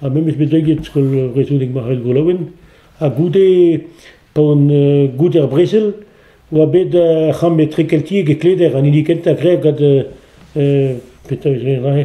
Ha me 'm eus bet leget skol vrezhoneg Marc'hall Golaouen ha goude pa on goude ar brezel oa bet ar c'hamm etrekeltiek e Kleder an hini kentañ graet gant petra e rae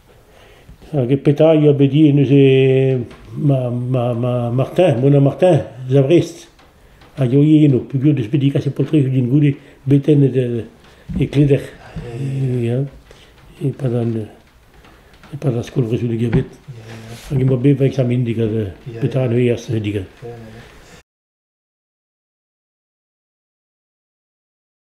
Hag petra a ya bet ivez neuze Martin, Mona Martin, eus a Vrest, a yoe eno peogwir deus bet degaset paotrig din goude betennet e Kleder e-pad ar skol vrezhoneg bet. Hag emañ bet va examen digant petra neuze eas digant.